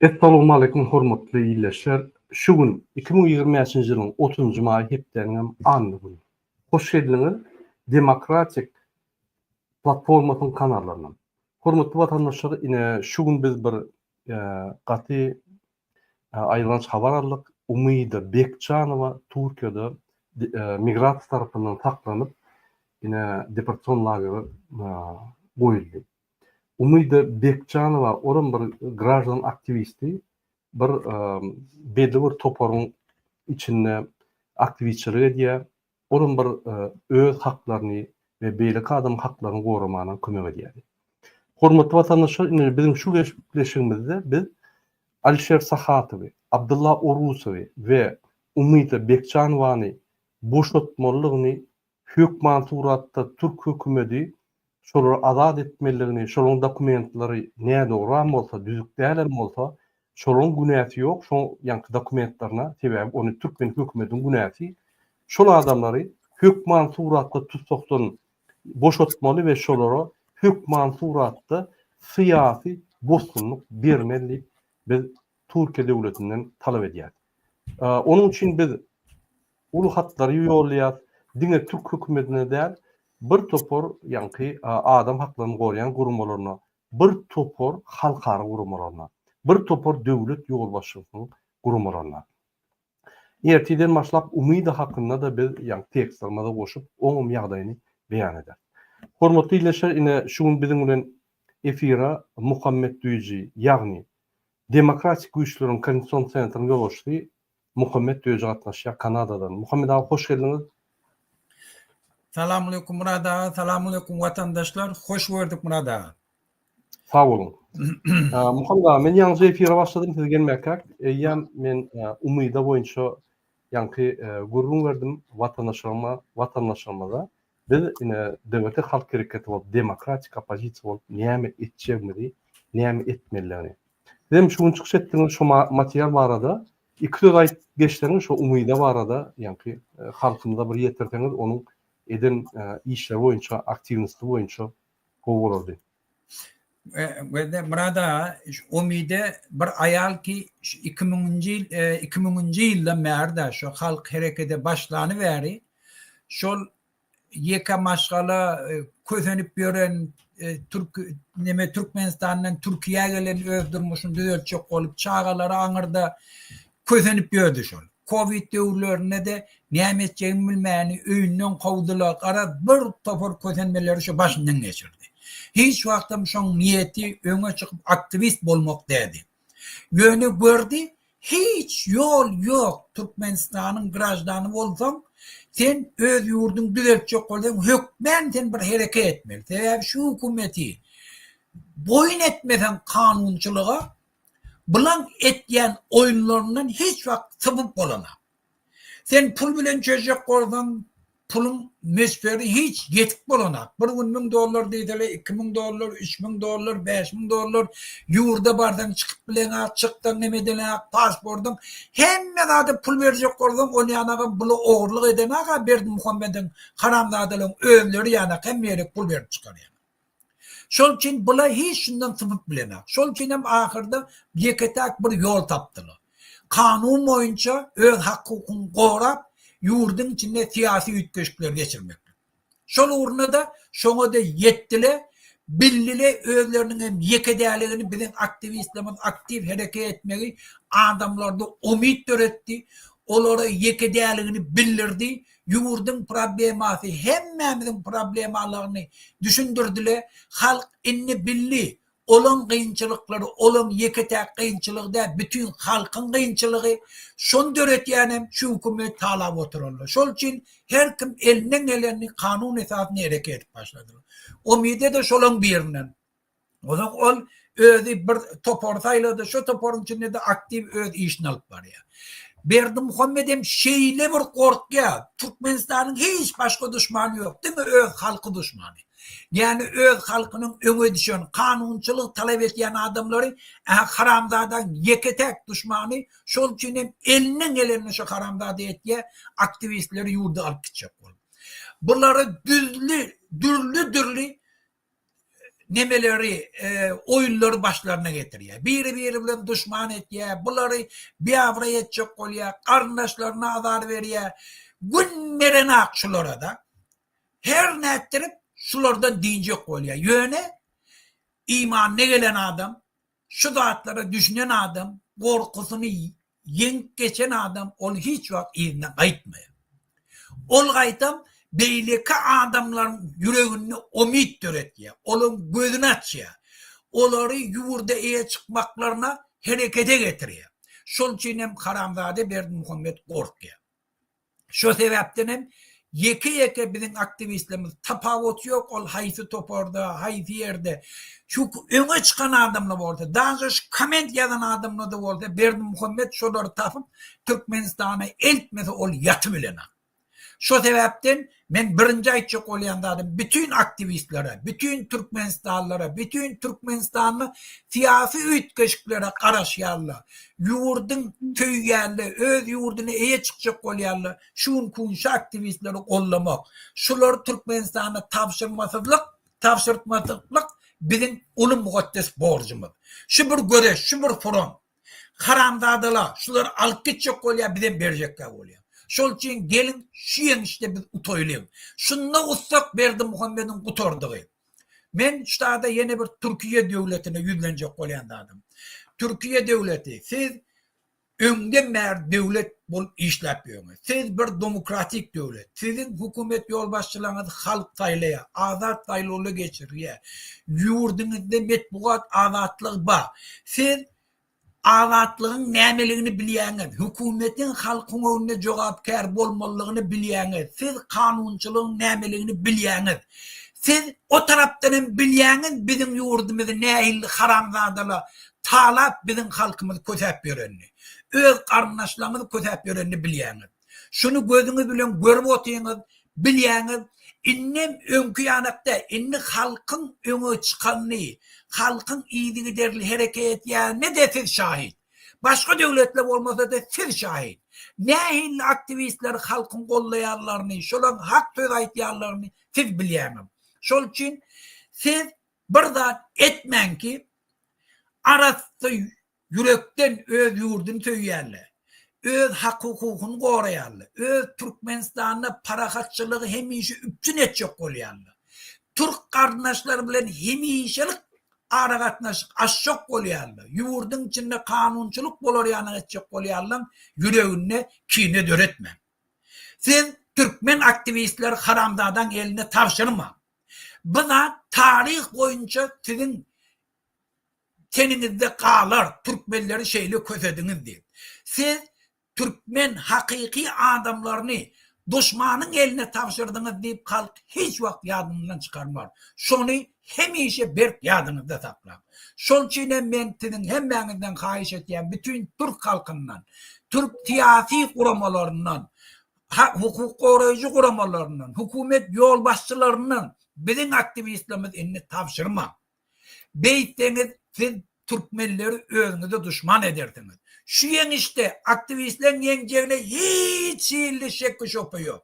Essalowmaleýkum hormatly ildeşler! Şu gün iki müň ýigrimi bäşinji ýylyň otuzynjy maýy hepdäniňem anna güni. Hoş geldiňiz Demokratik platformasyň kanallarynam. Hormatly watandaşlar ine şu gün biz bir gaty aýylganç habar aldyk. Umyda Bekjanowa Türkiýede migrasiýa tarapyndan saklanyp ine deportasion lagere goýuldy. Umyda Bekjanowa olam bir graždan aktiwisti, bir belli bir toparyň içinde aktiwistçilik edýär, olam bir öz haklaryny we beýleki adamyň haklaryny goramagyna kömek edýärdi. Hormatly watandaşlar indi biziň şu gepleşigimizde biz Alişer Sahatowy, Abdylla Orusowy we Umyda Bekjanowany boşatmalydygyny Hökman suratda türk hökümedi şolary azat etmeligini, şolaryň dokumentlary nädogram bolsa, düzük dälem bolsa, şolaryň günäsi ýok şol ýanky dokumentlaryna, sebäbi ony türkmen hökümediň günäsi, şol adamlary hökman suratda tussakdan boşatmaly we şolara hökman suratda syýasy bosgunlyk bermeli diýip biz Türkiýe döwletinden talap edýäris. Onuň üçin biz Uly hatlary ýollaýas, diňe türk hökümetine däl, bir topar ýaňky adam haklaryny goraýan guramalaryna, bir topar halkara guramalaryna, bir topar döwlet ýolbaşçysynyň guramalaryna. Ertirden başlap Umyda hakynda-da biz ýaňky tekstlerimize goşup, oňam ýagdaýyny beýan ederis. Hormatly ildeşler, ine şu gün biziň bilen efire Muhammet Düýji, ýagny Demokratik güýçleriň koordinasion sentryň ýolbaşçysy Muhammet Döji gatnaşýar Kanadadan. Muhammet aga hoş geldiňiz. Salamaleýkum Murad aga, salamaleýkum watandaşlar, hoş gördük Murad aga. Sag boluň. Muhammet aga, men ýaňyja efire başladym, siz gelmäkäk, eýýäm men Umyda boýunça ýaňky gürrüň berdim watandaşlaryma, watandaşlarymyza. Biz ine Döweti halk hereketi bolup, demokratik oppozisiýa bolup näme etjegimizi, näme etmelidigini. Siz hem şu gün çykyş etdiňiz şu material barada iki söz aýt geçseňiz şu Umyda barada ýaňky halkymyza bir ýetirseňiz onuň eden işleri boýunça aktiwnisty boýunça gowy bolardy. Gözde Murad aga, şu Umyde bir aýal ki, şu 2000-nji ýyl, e, 2000-nji ýyldan bäri-de şu halk herekete başlany bäri şol ýeke maşgala e, kösenip ýören e, türk neme Türkmenistandan Türkiýä gelen öz durmuşyny düzeltjek bolup, çagalary aňyrda Kösenip ýördi şol. Kowid döwürlerinde-de näme etjegini bilmän öýünden kowdular, garaz, bir topar kösenmeleri şu başyndan geçirdi. Hiç wagtam şoň niýeti öňe çykyp aktiwist bolmak däldi. Ýöne gördi, hiç ýol ýok, Türkmenistanyň graždany bolsaň, sen öz ýurduňy düzeltjek bolsaň, hökmän sen bir hereket etmeli. Sebäbi şu hökümeti boýun etmeseň kanunçylyga, Bulaň etýän oýunlaryndan hiç wagt sypyp bolanok. Sen pul bilen çözjek bolsaň, puluň möçberi hiç ýetik bolanok. Bir gün müň dollar diýseler, iki müň dollar, üç müň dollar, bäş müň dollar, ýurda barsaň çykyp bileňok, çyksaň hem edeleňok, pasportyň, hemme zada pul berjek bolsaň, ol ýanagam bula ogurlyk edeňok-a, Berdimuhammediň haramzadalaryň özleri ýanak hemme ýere pul berip çykarýar. Şol üçin bular hiç şundan sypyp bilenak. Şol üçin hem ahyrda ýeke-täk bir ýol tapdylar. Kanun boýunça öz hak-hukugyny gorap, ýurduň içinde syýasy üýtgeşikleri geçirmeklik. Şol ugrunda-da şoňa-da ýetdile, bildile özleriniň hem ýeke däligini biziň aktiwistlerimiz aktiw hereke etmegi adamlarda umyt döretdi, olara ýeke däligini bildirdi, Ýurduň problemasy hemmämiziň problemalygyny düşündirdile, halk indi bildi, olaň gynçylyklary olaň ýeke-täk gynçylygy däl, bütin halkyň gynçylygy, şony döretýänem şu hökümet talap oturanlar. Şol üçin her kim elinden gelenini kanun esasynda hereket edip başladylar. Umydy-da şolaň birinden. Ozak ol özi bir topar saýlady, şu toparyň içinde-de aktiw öz işini alyp barýar. Berdi Muhammet hem şeýle bir gorkýar, Türkmenistanyň hiç başga duşmany ýok, diňe öz halky duşmany. Ýani öz halkynyň öňe düşen, kanunçylyk talap etýän adamlary haramzadaň ýeke-täk duşmany, şol üçin hem elinden gelenini şu haramzada etýär, aktiwistleri ýurdy alyp gitjek bolup. Bulary düzli, dürli-dürli nemeleri, oýunlary başlaryna getirýär. Biri-biri bilen duşman etýär, bulary biabraý etjek bolýar, garyndaşlaryna azar berýär. Gün berenak şulara-da. Her nätdirip şulardan dynjak bolýar. Ýöne imanyna gelen adam Şu zatlara düşünen adam, gorkusyny ýeňip geçen adam ol hiç wagt yzyna gaýtmaýar. Ol gaýtam beýleki adamlaryň ýüreginde umyt döretýär, olaryň gözüni açýar, olary ýurda eýe çykmaklaryna herekete getirýär. Şol üçin hem haramzada Berdimuhamet gorkýar. Şo sebäpden hem ýeke-ýeke biziň aktiwistlerimiz, tapawuty ýok ol haýsy toparda, haýsy ýerde, şu öňe çykan adamlar bolsa, daže şu komment ýazan adamlarda bolsa Berdimuhamet şolary tapyp Türkmenistana eltmese ol ýaty bilenok. Şo sebäpden Men birinji aýtjak bolýan zadym bütin aktiwistlere, bütin türkmenistanlylara, bütin türkmenistanly syýasy üýtgeşiklere garaşýanla, ýurdyň söýýänle, öz ýurdyna eýe çykjak bolýanla şu gün kunşa aktiwistleri goldamak, şulary türkmenistana tabşyrmasyzlyk, tabşyrtmasyklyk biziň uly mugeddes borjumyz. Şu bir göreş, şu bir front. Haramzadala şulary alyp gitjek bolýa bizem berjekkä bolýa. Şol üçin geliň şu ýeňişde biz utaýlyň. Şunda utsak Berdimuhamediň gutardygy. Men ştada ýene bir Türkiýe döwletine ýüzlenjek bolýan zadym. Türkiýe döwleti siz öňden bäri döwlet bolup işläp ýörňiz. Siz bir domokratik döwlet. Siziň hökümet ýolbaşçylaryňyzy halk saýlaýar, azat saýlawlar geçirilýär. Ýurduňyzda metbugat azatlygy bar. Siz azatlygyň nämeligini bilýäňiz. Hökümetiň halkyň öňünde jogapkär bolmalygyny bilýäňiz. Siz kanunçylygyň nämeligini bilýäňiz. Siz o tarapdan hem bilýäňiz biziň ýurdumyzy nähilli haramzadalar talap biziň halkymyzy kösäp ýörenini. Öz garyndaşlaryňyzy kösäp ýörenini bilýäňiz. Şuny gözüňiz bilen görüp otyňyz, bilýäňiz. Indem öňki ýanakda, indi halkyň öňe çykanyny, halkyň yzygiderli hereket edýänine-de siz şahyt. Başga döwletler bolmasa-da siz şahyt. Nähili aktiwistleri halkyň goldaýanlaryny, şolaryň hak söz aýtýanlaryny siz bilýäňiz. Şol üçin siz bir zat etmäň ki, arassa Ýürekden öz ýurduny söýýärler. Öz hak-hukugyny goraýarlar. Öz Türkmenistanda parahatçylygy hemişe üpjün etjek bolýarlar. Türk garyndaşlary bilen hemişelik aragatnaşyk açjak bolýarlar. Ýurduň içinde kanunçylyk bolar ýanyň etjek bolýarlaň ýüreginde kine döretmäň. Siz türkmen aktiwistleri haramzadaň eline tabşyrmaň. Bu zat taryh boýunça siziň teniňizde galar, türkmenleri şeýle kösediňiz diýip. Siz türkmen hakyky adamlaryny duşmanyň eline tabşyrdyňyz diýip halk hiç wagt ýadyňyzdan çykarmaz. Şony hemişe berk ýadyňyzda saklaň. Şoň üçin hem men siziň hemmäňizden haýyş etýän bütin türk halkyndan, türk syýasy guramalaryndan, hukuk goraýjy guramalaryndan, hökümet ýolbaşçylaryndan biziň aktiwistlerimiz indi tabşyrmaň. Beýtseňiz, siz türkmenleri özüňize duşman edersiňiz. Şu ýeňişde aktiwistleriň ýeňjegine hiç hilli şekgi-şübhe ýok.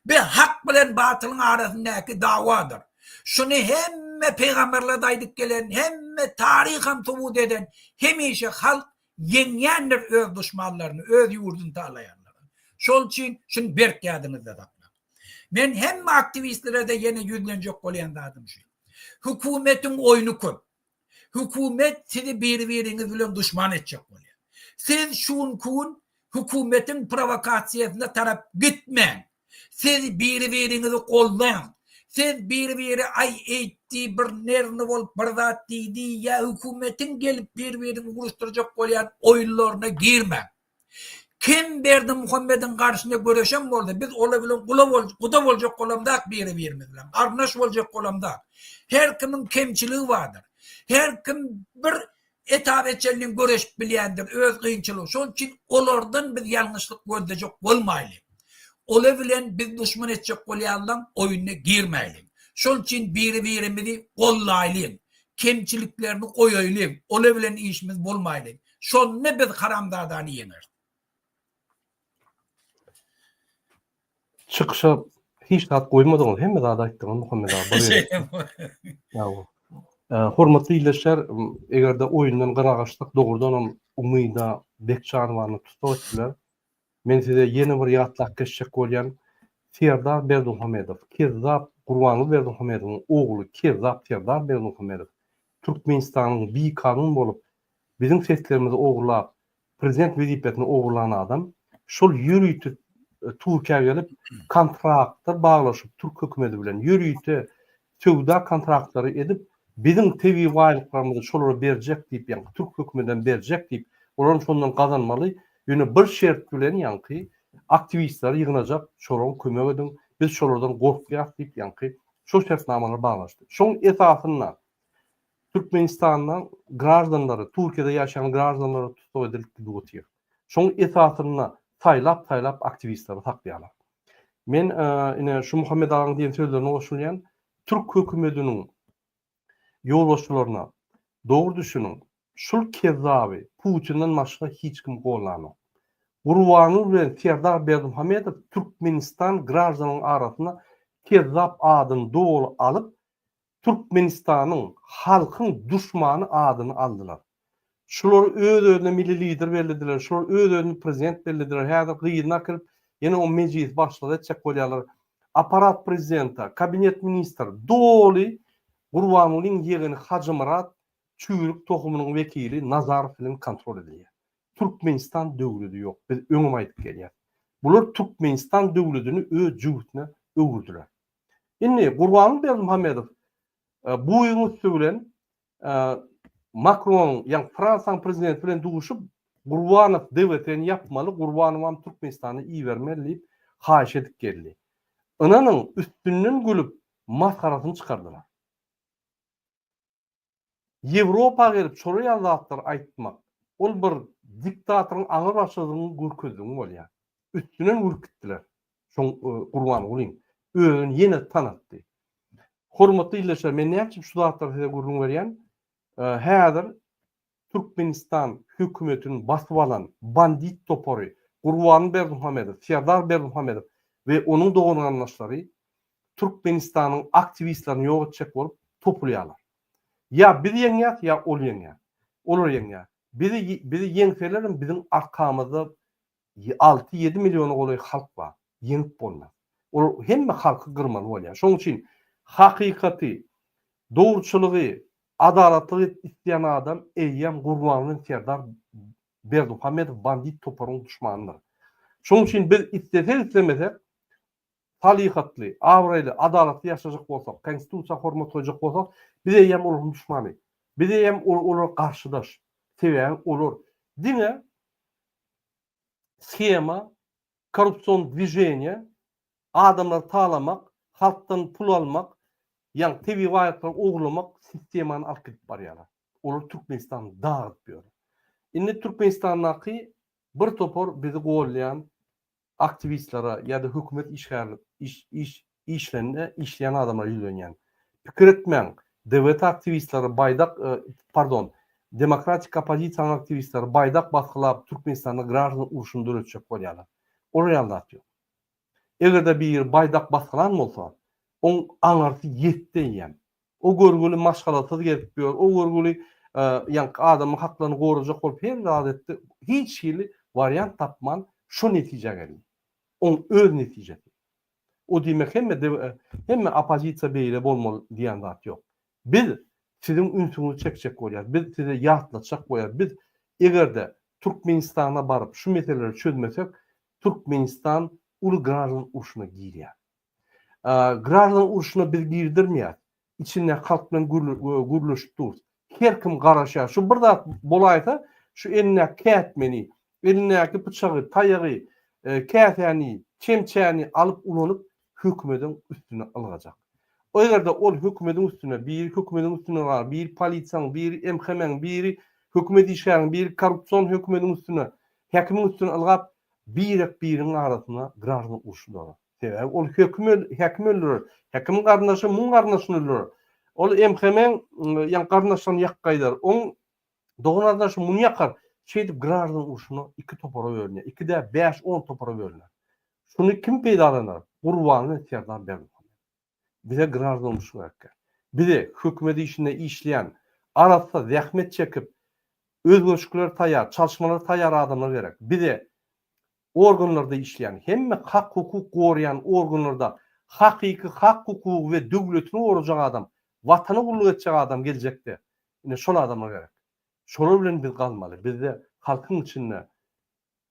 Bu hak bilen batylyň arasyndaky dawadyr. Şuny hemme pygamberler-de aýdyp gelen, hemme taryham subut eden, hemişe halk ýeňýändir öz duşmanlaryny, öz ýurduny talaýanlary. Şol üçin şuny berk ýadyňyzda saklaň. Men hemme aktiwistlere-de ýene ýüzlenjek bolýan zadym şu. Hökümetiň oýny köp. Hökümet sizi biri-biriňiz bilen duşman etjek bolýar. Siz şu günki gün hökümetiň prowokasiýasyna tarap gitmäň. Siz biri-biriňizi goldaň. Siz biri-biri aý eýtdi, bir nerwny bolup bir zat diýdi ýa hökümetiň gelip bir-birini uruşdyrjak bolýan oýunlaryna girmäň. Kim Berdimuhamediň garşyna göreşen bolsa, biz olar bilen guda boljak bolamzak biri-birimiz bilen, garyndaş boljak bolamzak. Her kimiň kemçiligi bardyr. Her kim bir etap etjelinden göreşip bilýändir, öz kynçylygy. Şol üçin olardan biz ýalňyşlyk gözlejek bolmaýly. Olar bilen biz duşman etjek bolýanlaň oýnuna girmäýli. Şol üçin biri-birimizi gollaýly, kemçiliklerini goýaýly, olar bilen işimiz bolmaýly. Şonda biz haramzadany ýeňeris. Çykyşa hiç zat goýmadyňyz, hemme zady aýtdyňyz Muhammet abi. Ýa-o. Hormatly ildeşler, eger-de oýundan gynagyşsak, dogrudanam Umyda Bekjanowany tussag etdiler. Men size ýene bir ýatlap geçjek bolýan Serdar Berdimuhamedow, kezzap Gurbanguly Berdimuhamedowyň ogly kezzap Serdar Berdimuhamedow Türkmenistanyň bikanun bolup biziň seslerimizi ogurlap prezident wezipesini ogurlan adam şol ýörite Türkiýä gelip kontraktlar baglaşyp türk hökümeti bilen ýörite Söwda kontraktlary edip, biziň tebigy baýlyklarymyzy şolara berjek diýip, ýaňky türk hökümetem berjek diýip, olaram şondan gazanmaly, ýöne bir şert bilen ýaňky aktiwistleri ýygnajak, şolam kömek ediň, biz şolardan gorkýas diýip, ýaňky şol şertnamalary baglaşdy. Şoň esasynda Türkmenistanda graždanlary, Turkiýada ýaşaýan graždanlary tussag edilip gidip otyr. Şoň esasynda saýlap-saýlap aktiwistleri saklaýarlar. Men ine şu Muhammet agaň diýen sözlerine goşulýan. Türk hökümediniň ýolbaşçylaryna dogry düşüniň. Şul kezzaby Putinden başga hiç kim gollanok. Gurbanguly bilen Serdar Berdimuhamedow Türkmenistan graždanyň arasynda kezzap adyny doly alyp Türkmenistanyň halkyň duşmany adyny aldylar. Şular öz özüne milli lider bellidiler, şular öz özüni prezident bellidiler, häzir gyzyny akyryp ýene o mejlisi başlyk etjek bolýarlar. Aparat prezidenta, kabinet ministr doly Gurbangulyň ýegeni Hajymyrat çüýrük tohumynyň wekili Nazarow bilen kontrol edilýär. Türkmenistan döwledi ýok, biz öňem aýdyp gelýäs. Bular Türkmenistan döwledini öz jübütine öwürdiler. Indi Gurbanguly Berdimuhamedow buýuň üsti bilen Makron, ýagny Fransiýanyň prezidenti bilen duşup, Gurbanow DWT-ni ýapmaly, Gurbanowam Türkmenistana ibermeli diýip haýyş edip geldi. Ynanyň, üstünden gülüp, masgarasyny çykardylar. Ýewropa gelip şolar ýaly zatlary aýtmak, ol bir diktatoryň aňry başydygyny görkezdigiň bolýar. Üstünden ürkütdiler. Şoň Gurbangulyň özüni ýene tanatdy. Hormatly ildeşler, men näme üçin şu zatlary size gürrüň berýän? Häzir Türkmenistan hökümetini basyp alan bandit topary Gurban Berdimuhamedow, Serdar Berdimuhamedow we onuň dogan-garyndaşlary Türkmenistanyň aktiwistlerini ýok etjek bolup topulýarlar. Ýa biz ýeňýäs, ýa ol ýeňýär. Olar ýeňýär. Bizi bizi ýeňselerem biziň arkamyzda alty-ýedi milliona golaý halk bar. Ýeňip bolmaz. Ol hemme halky gyrmaly bolýar. Şonuň üçin hakykaty, dogruçylygy, adalatlygy isleýän adam eýýäm Gurbanguly Serdar Berdimuhamedow bandit toparyň duşmanydyr. Şonuň üçin biz islesek-islemesek salyhatly, abraýly, adalatly ýaşajak bolsak, Konstitusiýa hormat goýjak bolsak, biz eýýäm olaryň duşmany. Biz eýýäm olara garşydaş. Sebäbi olar diňe shema, korrupsion dwiženiýe, adamlary talamak, halkdan pul almak, ýaňy tebigy baýlyklary ogurlamak sistemany alyp gidip barýarlar. Olar Türkmenistany dagyp ýörler. Indi Türkmenistandaky bir topar bizi golleýän aktiwistlere ýa-da hökümet işgärleri işlende işleýän adamlara ýüzlenýän. Pikir etmäň, DWT aktiwistleri baýdak, pardon, demokratik oppozisiýanyň aktiwistleri baýdak basgylap Türkmenistanda graždan urşuny döretjek bolýarlar. Olar ýaly zat ýok. Eger-de biri baýdak basgylan bolsa, oň aňyrsy ýetdi eýýäm. O görgüli maşgalasyz gezip ýör, o görgüli ýaňky adamyň haklaryny gorajak bolup her zat etdi, hiç hili wariant tapman şo netijä geldi. Oň öz netijesi. O diýmek hemme hemme oppozisiýa beýle bolmaly diýen zat ýok. Biz siziň ünsüňizi çekjek bolýarys, biz size ýatlatjak bolýarys, biz eger-de Türkmenistana baryp şu meseleleri çözmesek, Türkmenistan uly graždan urşuna girýär. Graždan urşuna biz girdirmeýäs. Içinde halk bilen gürleşip durus. Her kim garaşýar. Şu bir zat bolaýsa, şu elindäki kätmeni, elindäki pyçagy, taýagy, e, käsäni, çemçäni alyp ulanyp hökümediň üstüne ylgajak. O ýerde ol hökümediň üstüne, biri hökümediň üstüne bar, biri polisiýaň, biri MHM-iň, biri hökümet işgäriniň, biri korrupsion hökümediň üstüne, häkimiň üstüne ylgap, birek biriň arasyna graždan urşy dolar. Sebäbi ol höküm häkim öldürer. Häkim garyndaşy muň garyndaşyny öldürer. Ol MHM-iň ýa garyndaşlaryny ýakyp gaýdar. Oň doganardaşy muny ýakar. Şeýdip graždan urşuna iki topara bölünýär. Iki däl, bäş-on topara bölünýär. Şuny kim peýdalanar? Gurbanly Serdar Berdimuhamedow. Bize graždanlyk gerekkä. Bize hökümet işinde işleýän, arassa zähmet çekip, özgerişiklere taýýar, çalyşmalara taýýar adamlar gerek. Bize organlarda işleýän, hemme hak-hukuk goraýan organlarda hakyky hak-hukugy we döwletini gorajak adam, Watana gulluk etjek adam geljekde, ine, şol adamlar gerek. Şolar bilen biz galmaly. Bizde halkyň içinde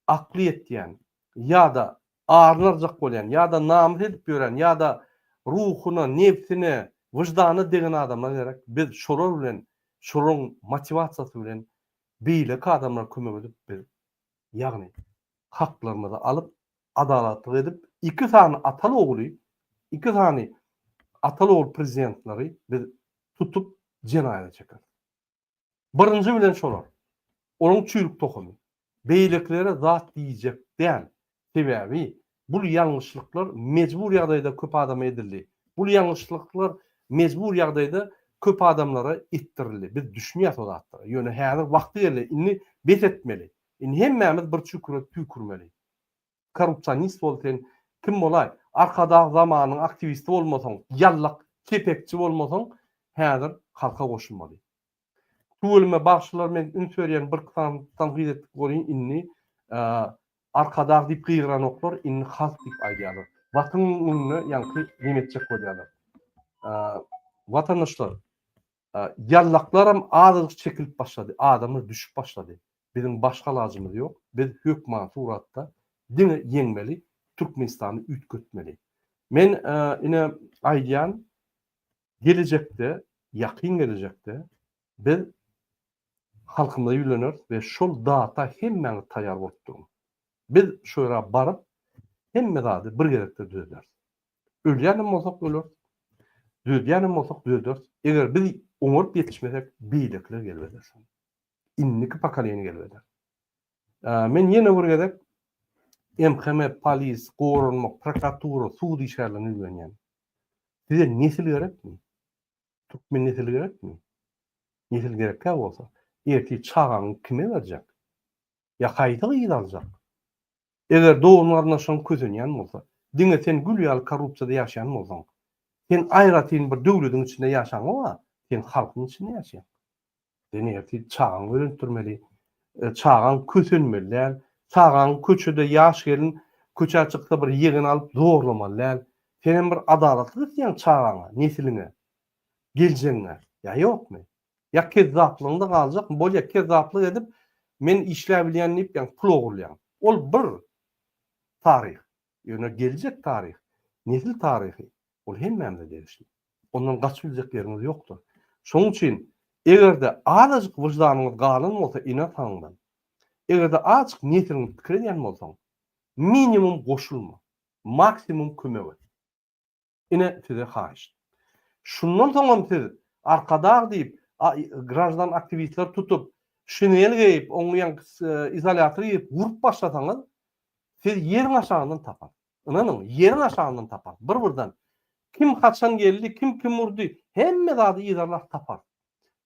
akly ýetýän ýa-da arynarjak bolýan ýa-da namys edip ýören ýa-da ruhyna, nebsine, wyždanyna degen adamlar gerek. Biz şolar bilen, şolaryň motiwasiýasy bilen beýleki adamlara kömek edip biz, ýagny haklarymyzy alyp, adalatlyk edip, iki sany ataly-ogly, iki sany ataly-ogul prezidentleri biz tutup jenaýata çekeris. Birinji bilen şolar. Onuň çüýrük tohumy. Beýlekilere zat diýjek däl. Sebäbi bul ýalňyşlyklar mejbur ýagdaýda köp adama edildi. Bul ýalňyşlyklar mejbur ýagdaýda köp adamlara etdirildi. Biz düşünýäs o zatlara. Ýöne häzir wagty geldi. Indi bes etmeli. Indi hemmämiz bir çüküre tüýkürmeli. Korrupsionist bol sen kim bolaý? Arkadag zamanyň aktiwisti bolmasaň, ýallak kepekçi bolmasaň häzir halka goşulmaly. Tüweleme bagşylar men üns berýän bir sany tankyt etdik bolýyn indi Arkadag diýip gygyranoklar indi halk diýip aýdýarlar. Watyň öňünde ýaňky neme etjek bolýarlar. Watandaşlar Ýallaklaram azajyk çekilip başlady, adamlar düşüp başlady. Biziň başga alajymyz ýok, biz hökmany suratda diňe ýeňmeli, Türkmenistany üýtgetmeli. Men ine aýdýan, gelejekde, ýakyn gelejekde biz halkymyza ýüleneris we şol data hemmäňiz taýýar bolup duruň. Biz şo ýere baryp, hemme zady bir gezekde düzederis. Ölýänem bolsak öleris. Dödýänem bolsak döderis. Eger biz oňaryp ýetişmesek, beýlekiler gelip eder. Indiki pokoleniýa gelip eder. Men ýene bir gezek MHM, polis, goranma, prokuratura, sud işgärlerine ýüzlenýän. Size nesil gerekmi? Türkmen nesili gerekmi? Nesil gerekkä bolsa, erti çagaňy kime berjek? Ýa haýsy gyzy aljak? Eger dogan-garyndaşlaryň kösenýän bolsa, diňe sen gül ýaly korrupsiýada ýaşaýan bolsaň, sen aýratyn bir döwlediň içinde ýaşaňok-a, sen halkyň içinde ýaşaýaň. Sen ertir çagaňy öýrentdirmeli, çagaň kösenmeli däl, çagaň köçede ýaş gelin köçä çyksa bir ýegeni alyp zorlamaly däl. Senem bir adalatlyk isleýäň çagaňa, nesliňe, geljegiňe, ýa ýokmy? Ýa kezzaplygyňda galjak, bolýa kezzaplyk edip men işläbilýän diýip ýaňy pul ogurlaýaň. Ol bir taryh. Ýöne geljek taryh, nesil taryhy ol hemmämize degişli. Ondan gaçyp biljek ýeriňiz ýokdur. Şonuň üçin eger-de azajyk wyždanyňyz galan bolsa ene ataňdan, eger-de azajyk nesiliňi pikir edýän bolsaň, minimum goşulma, maksimum kömek et. Ine size haýyşt. Şundan soňam siz Arkadag diýip graždan aktiwistler tutup, şinel geýip, oňa ýaň izolýator geýip urup başlasaňyz, siz ýeriň aşagyndan tapar. Ynanyň, ýeriň aşagyndan tapar. Bir-birden kim haçan geldi, kim kim urdy, hemme zady yzarlap tapar.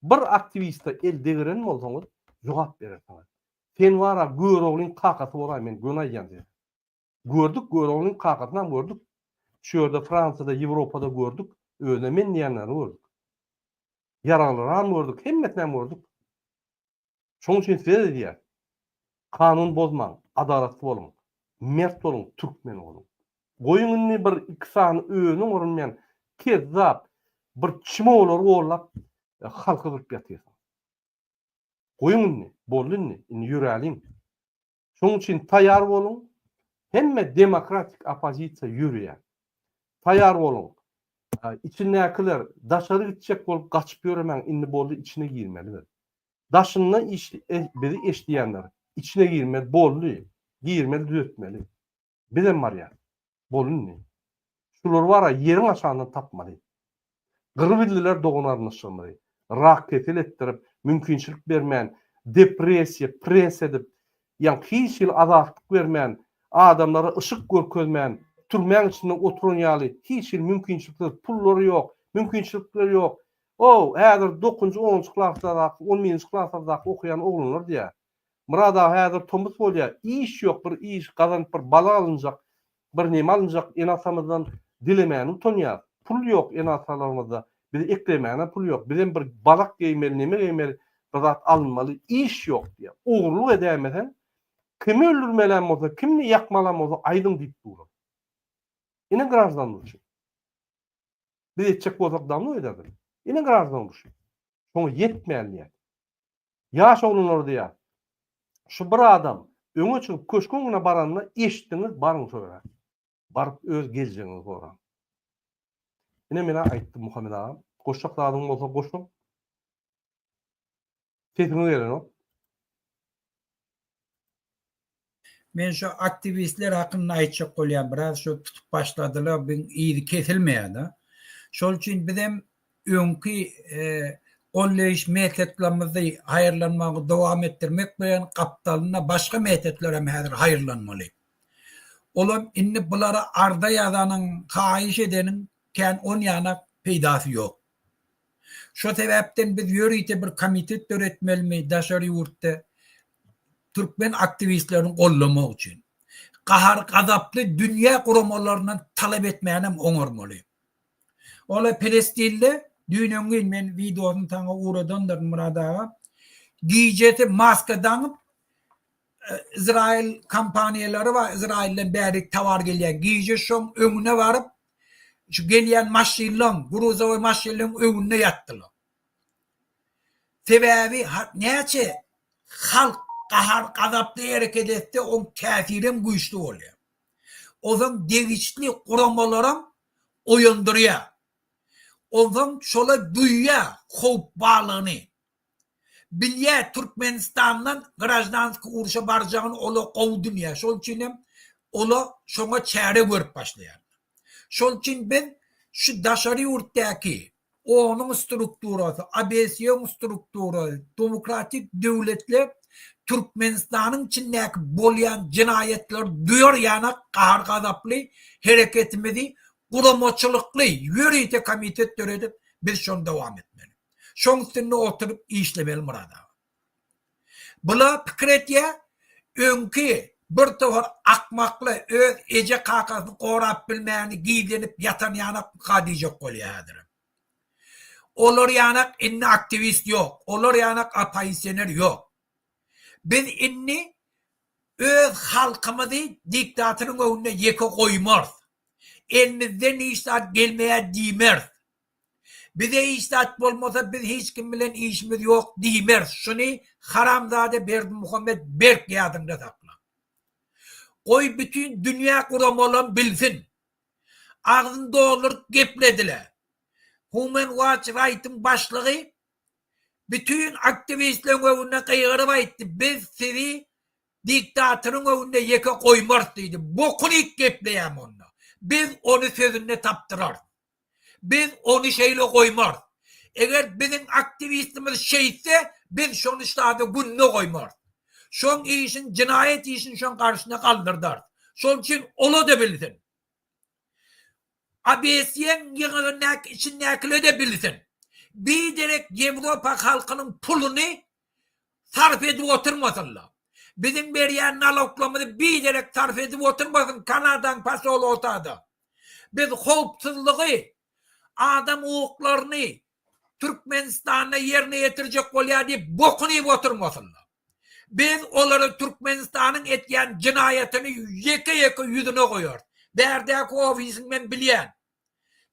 Bir aktiwiste el degeren bolsaňyz, jogap berersiňiz. Sen wara Göroglyň kakasy boraý men göni aýdýan size. Gördük gör onuň kakasynam gördük. Şu ýerde Fransiýada Ýewropada gördük. Özüne men diýýänlerini gördük. Ýaraglyram gördük hemmesinem gördük. Şoň üçin size diýýän. Kanun bozmaň, adalatly boluň, mert boluň, türkmen boluň. Goýuň indi bir iki sany özüne görünmeýän kezzap bir çmolary gollap halky gyryp ýatyrsyň. Goýuň indi, boldy indi, indi ýöräliň. Şonuň üçin taýýar boluň, hemme demokratik oppozisiýa ýöreýär. Taýýar boluň, içindäkiler daşary gitjek bolup gaçyp ýöremäň, indi boldy içine girmeli biz. Daşynda bizi eşidýänler içine girmeli, boldy, girmeli, düzetmeli. Bizem barýas. Bol indi. Şular bara ýeriň aşagyndan tapmaly. Gyrybildiler dogan-garyndaşlarymyzy. Rak-kesel etdirip, mümkinçilik bermän, depressiýa, press edip, ýa hiç hili azatlyk bermän, adamlara yşyk görkezmän, türmäň içinde oturan ýaly, hiç hili mümkinçiliksiz, pullary ýok, mümkinçilikleri ýok. O, häzir dokuzynjy, onunjy klaslardaky, on birinji klaslardaky okaýan oglanlar diýýär. Murad aga häzir tomus bolýa iş ýok bir iş gazanyp bir balyk alynjak bir neme alynjak ene atamyzdan dilemäni utanýas pul ýok ene atalarymyzda bize eklemäne pul ýok bizem bir balyk geýmeli neme geýmeli bir zat alynmaly iş ýok diýýä ogurlyk edäýmeseň kimi öldürmelän bolsa kimni ýakmalan bolsa aýdyň diýip duran ine graždan urşy biz etjek bolsak dawno ederdik ine graždan urşy şoňa ýetmän diýýä. Ýaş oglanlar diýýär. Şu bir adam öňe çykyp köşge öňüne baranda eşitdiňiz baryň şo ýere. Baryp öz geljegiňizi soraň. Ine men-ä aýtdym Muhammet agam. Goşjak zadyňyz bolsa goşuň. Sesiňiz gelenok. Men şu aktiwistler hakynda aýtjak bolýan biraz şu tutup başladylar biň yzy kesilmeýär da şol üçin bizem öňki golleýiş metodlamyzy haýyrlanmagy dowam etdirmek bilen gapdalynda başga metodlarem häzir haýyrlanmaly olam indi bulara arza ýazanyň haýyş edeniň kän on ýana peýdasy ýok. Şo sebäpden biz ýörite bir komitet döretmelimi daşary ýurtda türkmen aktiwistlerini goldamak üçin? Gahar-gazaply dünýä guramalaryndan talap etmänem oňarmaly. Ola Pelestinde düýn-öňňin men wideosyny saňa ugradandyryn Myrat aga. Gijesi maska daňyp Izraýyl kompaniýalary bar, Izraýyldan bärik towar gelýär. Gije şoň öňüne baryp Şu gelýän maşynlaň, gruzowy maşynlaň öňünde ýatdylar. Sebäbi näçe halk gahar-gazaply hereket etse, oň täsiri hem güýçli bolýar. Ozan degişli guramalaram oýandyrýar. Onsoň şolar duýýar howp barlygyny. Bilýä Türkmenistandan graždanskiý urşa barjagyny olar gowy dünýä şol üçin hem ola şoňa çäre görüp başlaýarlar. Şol üçin biz şu daşary ýurtdaky onuň strukturasy ABSYoň strukturasy demokratik döwletler Türkmenistanyň içindäki bolýan jenaýatlary duýar ýanak gahar gazaply hereketimizi guramaçylykly ýörite komitet döredip biz şony dowam etmeli. Şoň üstünde oturyp işlemeli Murad aga. Bular pikir etýär, öňki bir tohar akmakly öz eje kakasyny gorap bilmäni gizlenip ýatan ýanak ka diýjek bolýar häzirem. Olar ýanak indi aktiwist ýok, olar ýanak apoisioner ýok. Biz indi öz halkymyzy diktatoryň öňünde ýeke goýmarys. Elimizden hiç zat gelmeýär diýmeris. Bize hiç zat bolmasa biz hiç kim bilen işimiz ýok diýmeris şuny haramzada Berdimuhammet berk ýadyňda sakla. Goý bütin dünýä guramalam bilsin. Agzyny dolduryp gepledile. Human Watch Right'yň başlygy bütin aktiwistleriň öňünde gygyryp aýtdy biz sizi diktatoryň öňünde ýeke goýmarys diýdi. Bokuny iýip gepleýämi onda. Biz ony sözünde tapdyrarys. Biz ony şeýle goýmarys. Eger biziň aktiwistimiz şeýtse, biz şony ştada günde goýmarys. Şoň işin, jenaýat işini şoň garşyna galdyrdarys. Şol üçin ol-da bilsin. Obesiýaň ýygyndaky içindäkiler-de bilsin. Biderek Ýewropa halkynyň puluny sarp edip oturmasynlar. Biziň berýän naloglarymyzy biderek sarp edip oturmasyn Kanadaň posolotada. Biz howpsuzlygy, adam hukuklaryny Türkmenistanda ýerine ýetirjek bolýar diýip bokun iýip oturmasynlar. Biz olara Türkmenistanyň etýän jynaýatyny ýeke-ýeke ýüzüne goýarys. Bärdäki ofisiň men bilýän.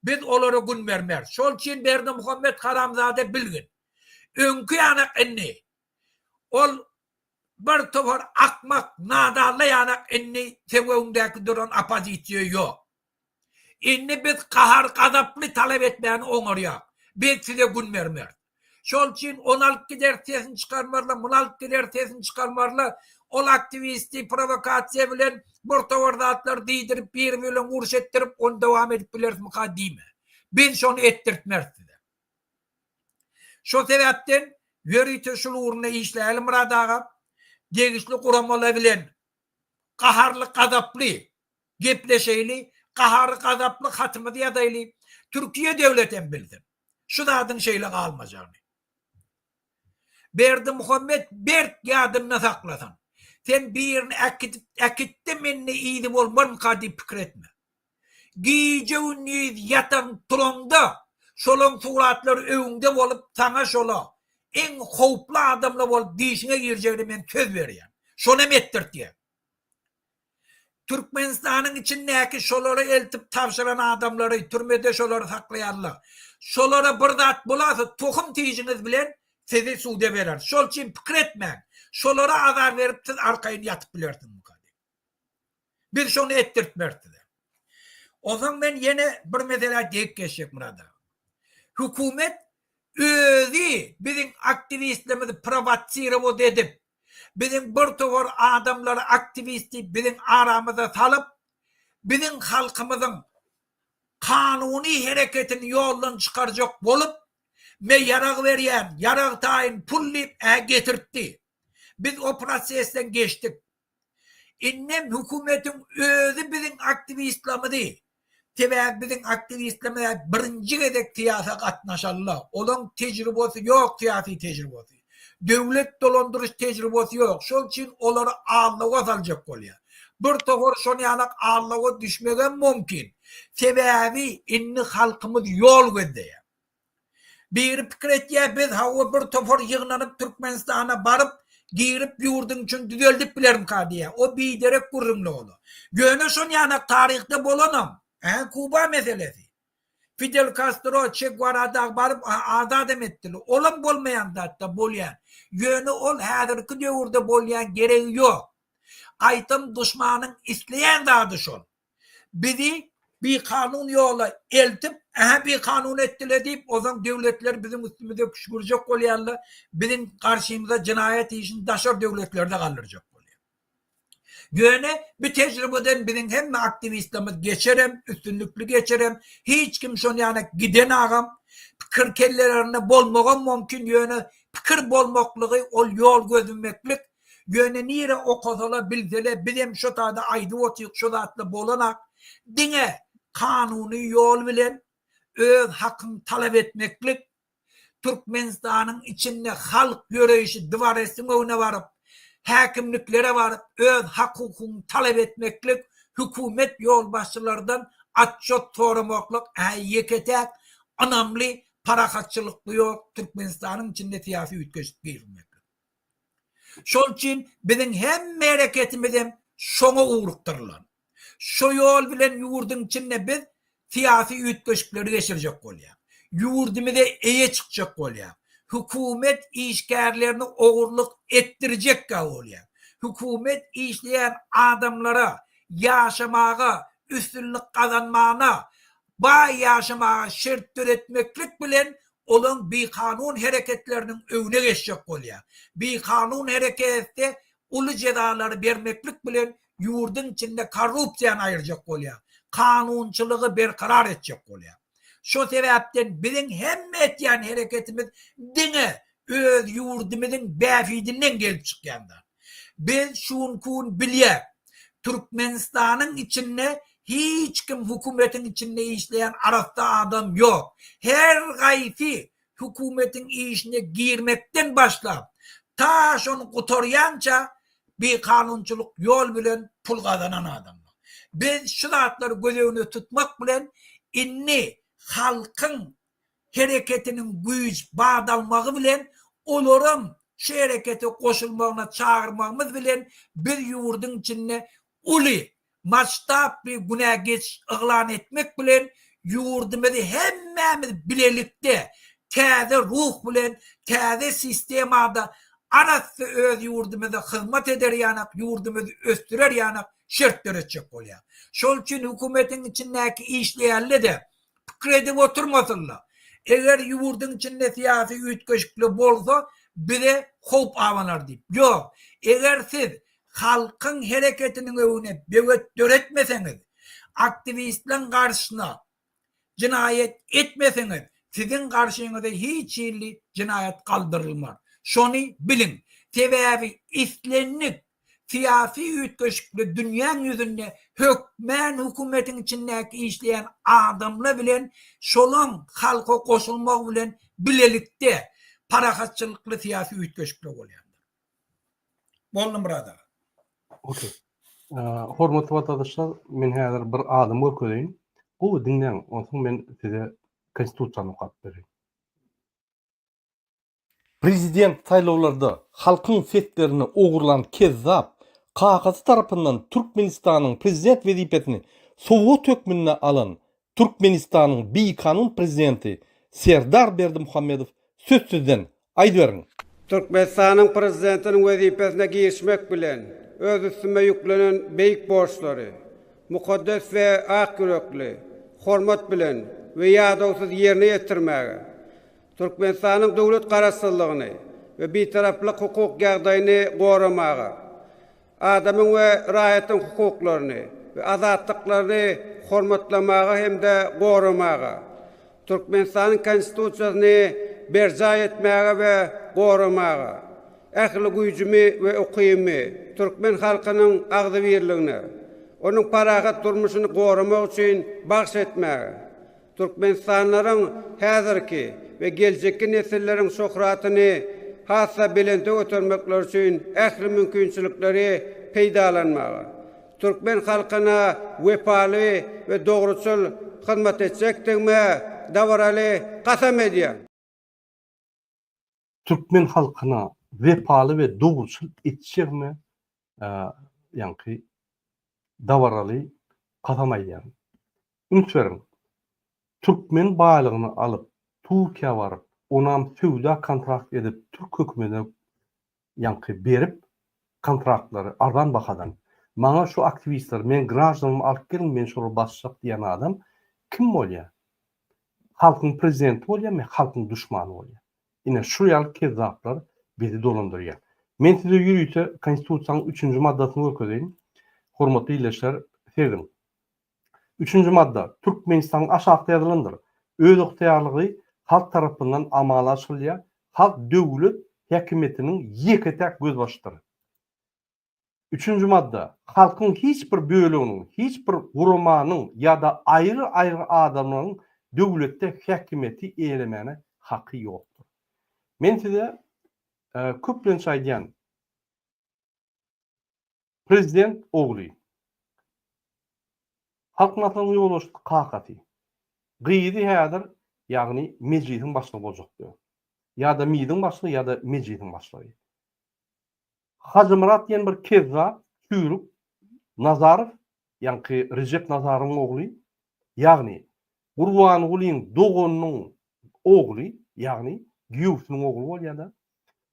Biz olara gün bermeris. Şol üçin Berdimuhamet haramzada bilgin. Öňki ýanak indi. Ol bir topar akmak, nadalla ýanak indi söwegiňdäki duran oppozisiýa ýok. Indi biz gahar-gazaply talap etmäni oňarýak. Biz size gün bermeris. Şol üçin ony alyp gideris sesini çykarmarlar, muny alyp gideris sesini çykarmarlar. Ol aktiwisti prowokasiýa bilen bir topar zatlary diýdirip, biri bilen uruş etdirip, ony dowam edip bilerismyka diýme. Biz şony etdirtmeris size. Şol sebäpden ýörite şul ugrunda işläli Myrat aga, degişli guramalar bilen gaharly gazaply gepleşeýli, gahary gazaply hatymyzy ýazaýly, Türkiýe döwletem bilsin şu zadyň şeýle galmajagyny. Berdimuhammet berk ýadynda saklasyn. Sen birini äkitip äkitde mende yzy bolmarmyka diýip pikir etme. Gije-gündiz ýataň-turaňda şolaň suratlary öňüňde bolup, saňa şola iň howply adamlar bolup dişiňe girjegine men söz berýän. Şonam etdirtýän. Türkmenistanyň içindäki şolara eltip tabşyran adamlary, türmede şolary saklaýanlar. Şolara bir zat bolasa, tohum tijiňiz bilen sizi suda bereris. Şol üçin pikir etmäň. Şolara azar berip siz arkaýyn ýatyp bilersiňizmi? Biz şony etdirtmeris size. Onsoň men ýene bir meselä degip geçjek Murad aga. Hökümet özi biziň aktiwistlerimizi prowotsirowat edip, biziň bir topar adamlary aktiwist diýip biziň aramyza salyp, biziň halkymyzyň kanuny hereketini ýoldan çykarjak bolup, me ýarag berýän, ýarag taýyn pul diýip-ä getirtdi. Biz o prosesden geçdik. Indem hökümetiň özi biziň aktiwistlamyzy, sebäbi biziň aktiwistlamyz hä birinji gezek syýasa gatnaşanla, olaň tejribasy ýok syýasy tejribasy, döwlet dolandyryş tejribasy ýok, şol üçin olary allawa saljak bolýar. Bir topar şon ýalak allawa düşmegem mumkin, sebäbi indi halkymyz ýol gözleýär. Biri pikir etýär biz hawa bir topar ýygnanyp Türkmenistana baryp girip ýurduň içini düzeldip bilerimka diýýär. O biderek gürrüňli ola. Ýöne şon ýanak taryhda bolanam. Ähä Kuba meselesi. Fidel Kastro, Çe Guara dagy baryp azadam etdiler. Olam bolmaýan zatda bolýan. Ýöne ol häzirki döwürde bolýan geregi ýok. Gaýtam duşmanyň isleýän zady şol. Bizi bikanun ýola eltip, ähä bikanun etdiler diýip, ozan döwletler biziň üstümize küşgürjek bolýarlar, biziň garşymyza jenaýat işini daşary döwletlerde galdyrjak bolýar. Ýöne bu tejribeden biziň hemme aktiwistlerimiz geçerem, üstünlikli geçerem, hiç kim şon ýana giden agam, pikir kellelerinde bolmagam mumkin, ýöne pikir bolmaklygy ol ýol gözlemeklik, Ýöne nire okasala bilsele bizem şo sada aýdyp otyk şo zatla bolanak diňe kanuny ýol bilen öz hakyň talap etmeklik Türkmenistanyň içinde halk ýöreýşi dwaresiň öňüne baryp häkimliklere baryp öz hak hukugyňy talap etmeklik hökümet ýolbaşçylardan atjot soramaklyk hä ýeke täk ynamly parahatçylykly ýol Türkmenistanyň içinde syýasy üýtgeşik girizmeklik. Şol üçin biziň hemme hereketimiz hem şoňa ugrukdyrylan. Şu ýol bilen ýurduň içinde biz syýasy üýtgeşikleri geçirjek bolýar. Ýurdumyza eýe çykjak bolýar. Hökümet işgärlerini ogurlyk etdirjekkä bolýar. Hökümet işleýän adamlara ýaşamaga, üstünlik gazanmagyna, baý ýaşamaga şert döretmeklik bilen olaň bikanun hereketleriniň öňüne geçjek bolýar. Bikanun hereketde uly jezalary bermeklik bilen ýurduň içinde korrupsiýany aýyrjak bolýar, kanunçylygy berkarar etjek bolýar. Şo sebäpden biziň hemme etýän hereketimiz diňe öz ýurdumyzyň bähbidinden gelip çykýan zat. Biz şunkun bilýäs, Türkmenistanyň içinde hiç kim hökümetiň içinde işleýän arassa adam ýok. Her gaýsy hökümetiň işine girmekden başlap, ta şony gutarýança bikanunçylyk ýol bilen pul gazanan adamlar. Biz şu zatlary göz öňünde tutmak bilen indi halkyň hereketiniň güýç, bat almagy bilen olaram şu herekete goşulmagyna çagyrmagymyz bilen biz ýurduň içinde uly masştably günä geçiş yglan etmek bilen ýurdumyzy hemmämiz bilelikde täze ruh bilen täze sistemada arassa öz ýurdumyza hyzmat eder ýanak ýurdumyzy ösdürer ýanak şert döretjek bolýar. Şol üçin hökümetiň içindäki işleýänle-de pikir edip oturmasynda. Eger ýurduň içinde syýasy üýtgeşikli bolsa bize howp abanar diýip. Ýok. Eger siz halkyň hereketiniň öwüne böwet döretmeseňiz, aktiwistleň garşyna jynaýat etmeseňiz, siziň garşyňyza hiç hilli jynaýat galdyrylmar. Şony biliň. Sebäbi islendik Syýasy üýtgeşikli dünýäň ýüzünde hökmän hökümetiň içindäki işleýän adamla bilen şolaň halka goşulmagy bilen bilelikde parahatçylykly syýasy üýtgeşikli bolýandyr. Boldy Myrat aga. Ok. Hormatly watandaşlar, men häzir bir adam görkezeýin. Gowy diňläň, onsoň men size Konstitusiýany okap bereýin. Prezident saýlawlarda halkyň seslerini ogurlan kezzap kakasy tarapyndan Türkmenistanyň prezident wezipesini sowgat hökmünde alan Türkmenistanyň bikanun prezidenti Serdar Berdimuhamedow sözsüzden, aýdyberiň! Türkmenistanyň prezidentiniň wezipesine girişmek bilen öz üstüme ýüklenen beýik borçlary mukaddes we ak ýürekli, hormat bilen we ýadawsyz ýerine ýetirmäge, Türkmenistanyň döwlet Garaşsyzlygyny we Bitaraplyk hukuk ýagdaýyny goramaga, adamyň we raýatyň hukuklaryny we azatlyklaryny hormatlamaga hem-de goramaga, Türkmenistanyň Konstitusiýasyny berjaý etmäge we goramaga, ähli güýjümi we ukybymy türkmen halkynyň agzybirligine, onuň parahat durmuşyny goramak üçin bagş etmäge, Türkmenistanlylaryň häzirki we geljekki nesilleriň şöhratyny has-da belente götermekleri üçin ähli mümkinçilikleri peýdalanmaga, türkmen halkyna wepaly we dogruçyl hyzmat etjekdigime dabaraly kasam edýän. türkmen halkyna wepaly we dogruçyl etjegime ýaňky dabaraly kasam aýdýaryn. Üns beriň, türkmen baýlygyny alyp, Turkiýa baryp, onam söwda-kontrakt edip türk hökümedine ýaňky berip kontraktlary arzan bahadan maňa şu aktiwistler meň graždanymy alyp geliň men şolar basjak diýen adam kim bolýa halkyň prezidenti bolýamy halkyň duşmany bolýa ine şu ýaly kezzaplar bizi dolandyrýa men size ýörite konstitusiýanyň üçünji maddasyny görkezeýin hormatly ildeşler seziň Üçünji madda Türkmenistanyň aşakda ýazylandyr. Özygtyýarlygy halk tarapyndan amala aşyrylýar, halk döwlet häkimiýetiniň ýeke-täk gözbaşydyr. Üçünji madda Halkyň hiç bir böleginiň, hiç bir guramanyň ýa-da aýry-aýry adamlaryň döwletde häkimiýeti eýelemäne haky ýokdur. Men size köplenç aýdýan, Prezident ogly. Halk Maslahatyna ýolbaşçy kakasy. Gyzy häzir, ýagny Mejlisiň başlygy boljak diýýär. Ýa-da MID-iň başlygy ýa-da Mejlisiň başlygy. Hajymyrat diýen bir kezzap, çüýrük Nazarow Ýaňky Rejep Nazaryň ogly, ýagny Gurbangulyň doganynyň ogly, ýagny giýewsiniň ogly bolýar-da.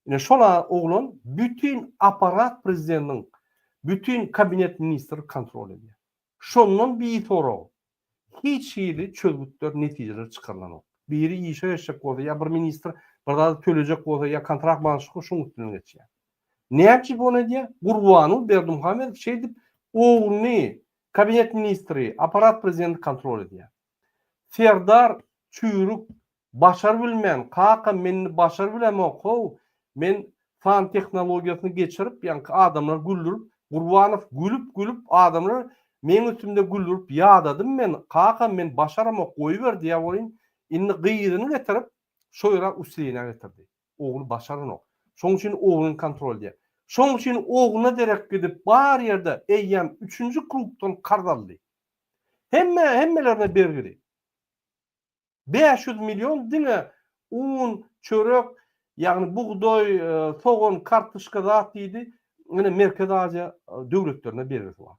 Ine şol oglan bütin apparat prezidentiň, bütin kabinet ministri kontrol edýär. Şondan bisorag hiç hili çözgütler, netijeler çykarylanok. Biri işe geçjek bolsa ýa bir ministr bir zady tölejek bolsa ýa kontrakt baglanyşykly şoň üstünden geçýär. Näçe bonu edýär? Gurbanguly Berdimuhamedow şeýdip ogluny kabinet ministri, apparat prezidenti kontrol edýär. Serdar çüýrük başar bilmän, kakam men indi başar bilemok how, men san tehnologiýasyny geçirip, ýaňky adamlary güldürip, Gurbanow gülüp gülüp adamlar meň üstümde güldürip ýadadym men, kakam men başaramok goýber diýýär welin, indi gyzyny getirip şo ýere uslyna getirdi. Ogly başaranok. Şoň üçin ogluny kontrol edýär. Şoň üçin ogluna derek gidip bar ýerde eýýäm üçünji klubdan karz aldy. Hemme hemmelerine bergili. Bäş ýüz million diňe un, çörek, ýagny bugdaý, sogan, kartoşka zat diýdi. Ine Merkezi Aziýa döwletlerine bergisi bar.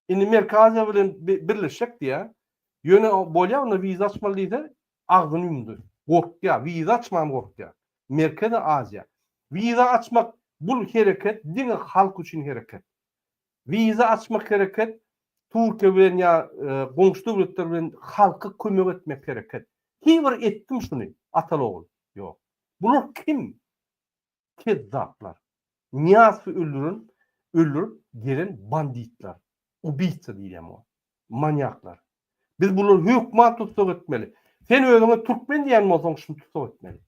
Indi Merki Aziýa bilen birleşjek diýýä. Ýöne bolýa onda wiza açmaly diýse, agzyny ýumdy. Gorkýa, wiza açman gorkýa. Merkezi Aziýa. Wiza açmak bu hereket diňe halk üçin hereket. Wiza açmak hereket Türkiýe bilen ýa e, goňşy döwletler bilen halka kömek etmek hereket. Hiç bir etdim şuny, atal ogul. Ýok. Bular kim? kezzaplar. Nyýazowy öldüren, öldürip gelen banditler. Ubyýca diýilýär muňa. Manýaklar. Biz bulary hökman tussag etmeli. Sen özüňe türkmen diýen bolsaň şuny tussag etmeli.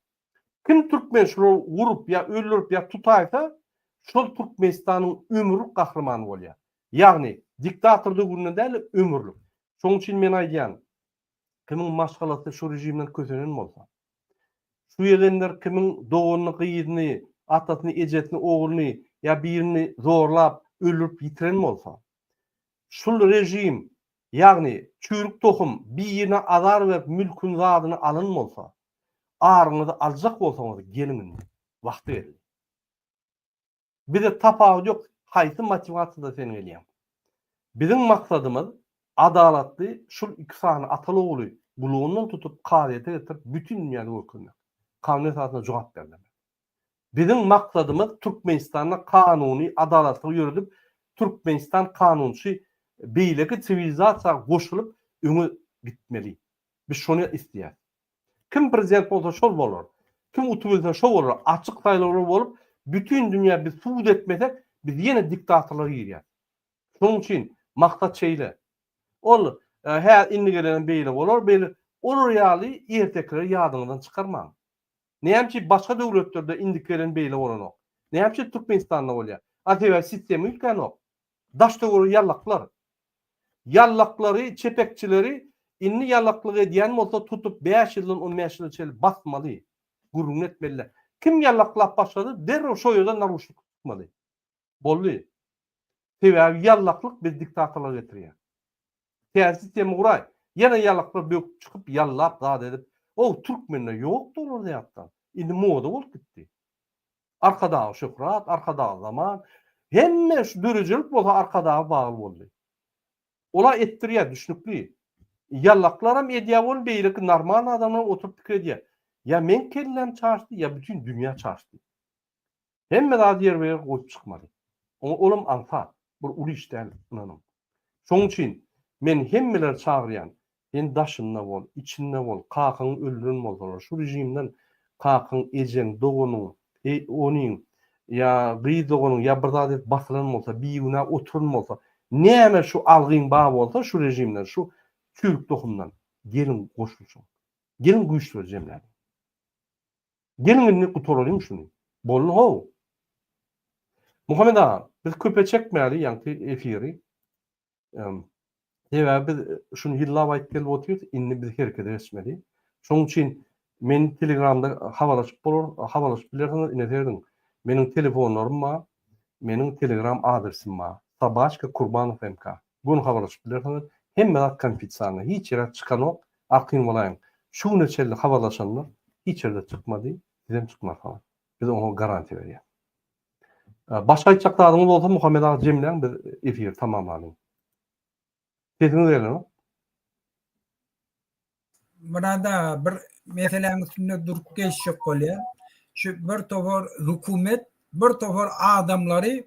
Kim türkmen şulary urup ýa öldürip ýa tutaýsa, şol Türkmenistanyň ömürlik gahrymany bolýar. Ýagny diktator döwründe däl-de ömürlik. Şonuň üçin men aýdýan, Kimiň maşgalasy şu režimden kösenen bolsa. Şu egenler kimiň doganyny, gyzyny, atasyny, ejesini, ogluny ýa birini zorlap, öldürip ýitiren bolsa. Şul režim, ýagny çüýrük tohum birine azar berip mülküni, zadyny alan bolsa. Aryňyzy aljak bolsaňyz geliň indi. Wagty geldi. Bize tapawut ýok haýsy motiwasiýada sen gelýäň. Biziň maksadymyz adalatly şul iki sany ataly ogly gulagyndan tutup kazyýete getirip bütin dünýäde görkezmek. Kanun esasynda jogap ber demek. Biziň maksadymyz Türkmenistanda kanuny adalatlygy ýöredip Türkmenistan kanunçy beýleki siwilizasiýa goşulyp öňe gitmeli. Biz şony isleýäs. Kim prezident bolsa şol bolar. Kim utubilse şo bolar. Açyk saýlawlar bolup, bütin dünýä biz subut etmesek, biz ýene diktatorlyga girýäs. Şonuň üçin maksat şeýle. Ol hä indi gelen beýle bolar, beýle olar ýaly ertekileri ýadyňyzdan çykarmaň. Näme üçin başga döwletlerde indiki gelen beýle bolanok? Näme üçin Türkmenistanda bolýar? A sebäbi sistema üýtgänok. Daştöweregiň ýallaklar. Ýallaklary, çepekçileri indi ýallaklyk edýän bolsa tutup bäş ýyldan on bäş ýyla çenli basmaly. Gürrüňini etmeli. Kim ýallaklap başlady derrew şo ýerden naruşnik tutmaly. Boldy. Sebäbi ýallaklyk bizi diktatorlyga getirýär. Täze sistema guraý. Ýene ýallaklar böküp çykyp ýallap zat edip. Ow türkmende ýokdy olarda ýatdan. Indi moda bolup gitdi. Arkadagy şöhrat, Arkadagy zaman, hemme şu döredijilik bolsa Arkadaga bagly boldy. Olar etdirýär, düşnükli. Ýallaklaram edýär ony, beýleki normal adamlar oturyp pikir edýär. Ýa meň kelläm çaşdy, ýa bütin dünýä çaşdy. Hemme zady ýerbe-ýer goýup çykmaly. Oňa olam aňsat, bir uly iş däl, ynanyň. Şonuň üçin men hemmeleri çagyrýan, Sen daşynda bol, içinde bol, kakaňy öldüren bolsalar, şu režimden kakaň, ejeň, doganyň, oniň ýa gyz doganyň ýa bir zady basylan bolsa, bigünä oturan bolsa, näme şu algyň bar bolsa şu režimden, şu çüýrük tohumdan, geliň goşulşyň. Geliň güýçleri jemläliň. Geliň indi gutaralyň şuny. Boldy how. Muhammet aga, biz köpe çekmäli ýaňky efiri. Sebäbi biz şuny ýyllap aýdyp gelip otyrys, indi biz herekete geçmeli. Şonuň üçin men Telegramda habarlaşyp bolar, habarlaşyp bilersiňiz, ine serdin. Meniň telefonlarym bar, meniň Telegram adresim bar. Sabaçka Kurbanov MK. Göni habarlaşyp bilersiňiz. Hemme zat konfitsialnyý, hiç ýere çykanok, arkaýyn bolaýyň. Şu güne çenli habarlaşanlar hiç ýerde çykmady, sizem çykmarsyňyz. Biz oňa garantiýa berýäs. Başga aýtjak zadyňyz bolsa Muhammet aga jemläň biz efiri tamamlalyň. Sesiňiz gelenok. Murad aga bir meseläň üstünde durup geçjek bolýar. Şu bir topar hökümet, bir topar adamlary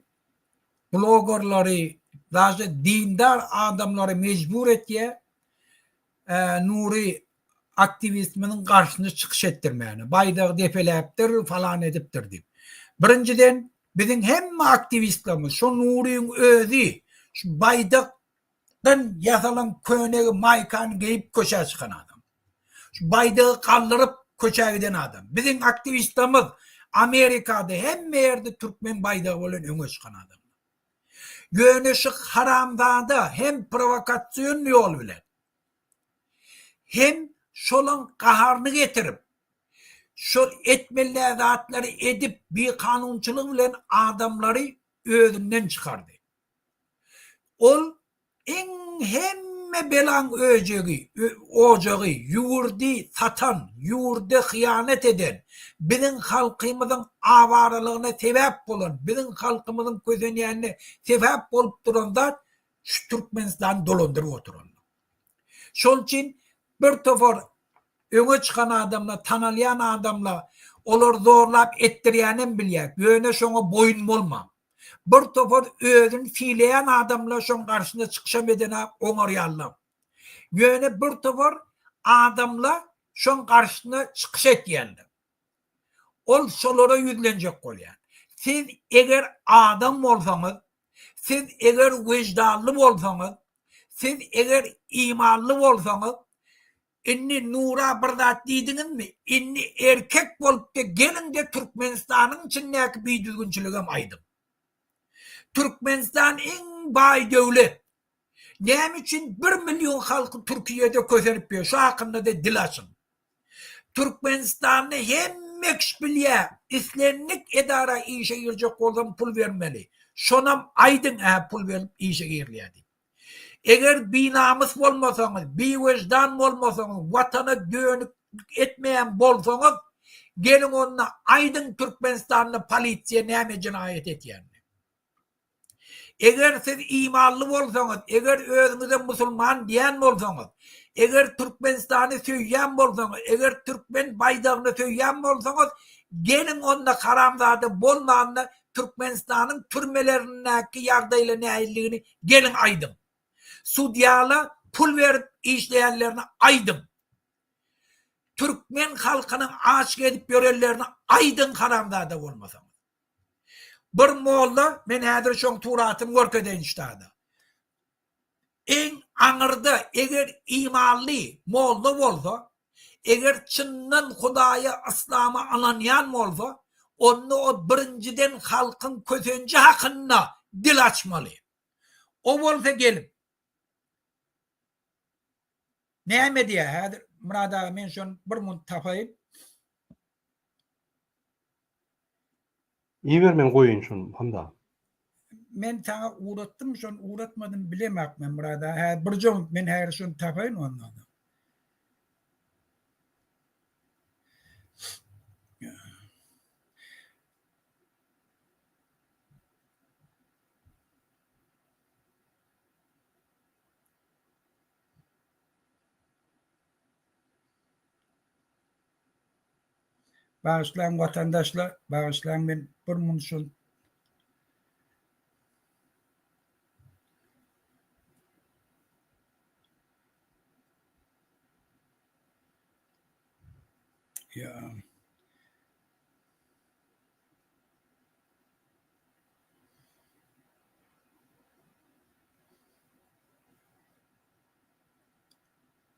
blogerleri, daşy dindar adamlary mejbur etýär. Nury aktiwistimiziň garşyna çykyş etdirmäne, baýdagy depeläpdir, falan edipdir diýip. Birinjiden, biziň hemme aktiwistlerimiz, şo Nuryň özi şu baýdakdan ýasalan köne maýkany geýip köçä çykan adam. Şu baýdagy galdyryp köçä giden adam. Biziň aktiwistlerimiz Amerikada hemme ýerde türkmen baýdagy bilen öňe çykan adamlar. Ýöne şu haramzada hem prowokasion ýol bilen, hem şolaň gaharyny getirip, şol etmelä zatlary edip bikanunçylyk bilen adamlary özünden çykardy. Ol Iň hemme belaň öjegi, ojagy, ýurdy satan, ýurda hyýanat eden, biziň halkymyzyň awaralygyna sebäp bolan, biziň halkymyzyň kösenýänine sebäp bolup duran zat şu Türkmenistany dolandyryp oturanlar. Şol üçin bir topar öňe çykan adamlar, tanalýan adamlar olar zorlap etdirýänem bilýär, ýöne şoňa boýun bolmaň. Bir topar özüni sileýän adamlar şoň garşyna çykyşam edene oňarýarla. Ýöne bir topar adamla şoň garşyna çykyş etýände. Ol şolara ýüzlenjek bolýar. Siz eger adam bolsaňyz, siz eger weždanly bolsaňyz, siz eger imanly bolsaňyz, Indi Nura bir zat diýdiňizmi? Indi erkek bolupda geliňde Türkmenistanyň içindäki bidüzgünçiligem aýdyň. Türkmenistan iň baý döwlet. Näme üçin bir million halky Türkiýede kösenip ýör şu hakyndada dil açyň. Türkmenistanda hemme kişi bilýär islendik edara işe girjek bolsam pul bermeli. Şonam aýdyň ä pul berip işe girilýär diýip. Eger binamys bolmasaňyz, biwejdan bolmasaňyz, watana dönük etmeýän bolsaňyz, geliň onda aýdyň Türkmenistanda polisiýa näme jenaýat etýänini. Eger siz imanly bolsaňyz, eger özüňize musulman diýen bolsaňyz, eger Türkmenistany söýýän bolsaňyz, eger türkmen baýdagyny söýýän bolsaňyz, geliň onda haramzada bolmanda Türkmenistanyň türmelerindäki ýagdaýla näildigini geliň aýdyň. Sudýala pul berip işleýänlerini aýdyň. Türkmen halkynyň aç gezip ýörenlerini aýdyň haramzada bolmasaňyz. Bir molla men häzir şoň suratyny görkezeýin ştada. Eň aňyrda eger imanly molla bolsa Eger çyndan Hudaýa, yslama ynanýan bolsa, onda o birinjiden halkyň kösenji hakynda dil açmaly. O bolsa gelip. Näme diýýär häzir? Murad aga men şony bir munt tapaýyn. Iýiber men goýaýyn şony handa. Men saňa ugratdym şony ugratmadym bilemak men Myrat aga häzir birjeň men häzir şony tapaýyn onda. Bagyşlaň watandaşlar bagyşlaň men bir mun şun. Ya.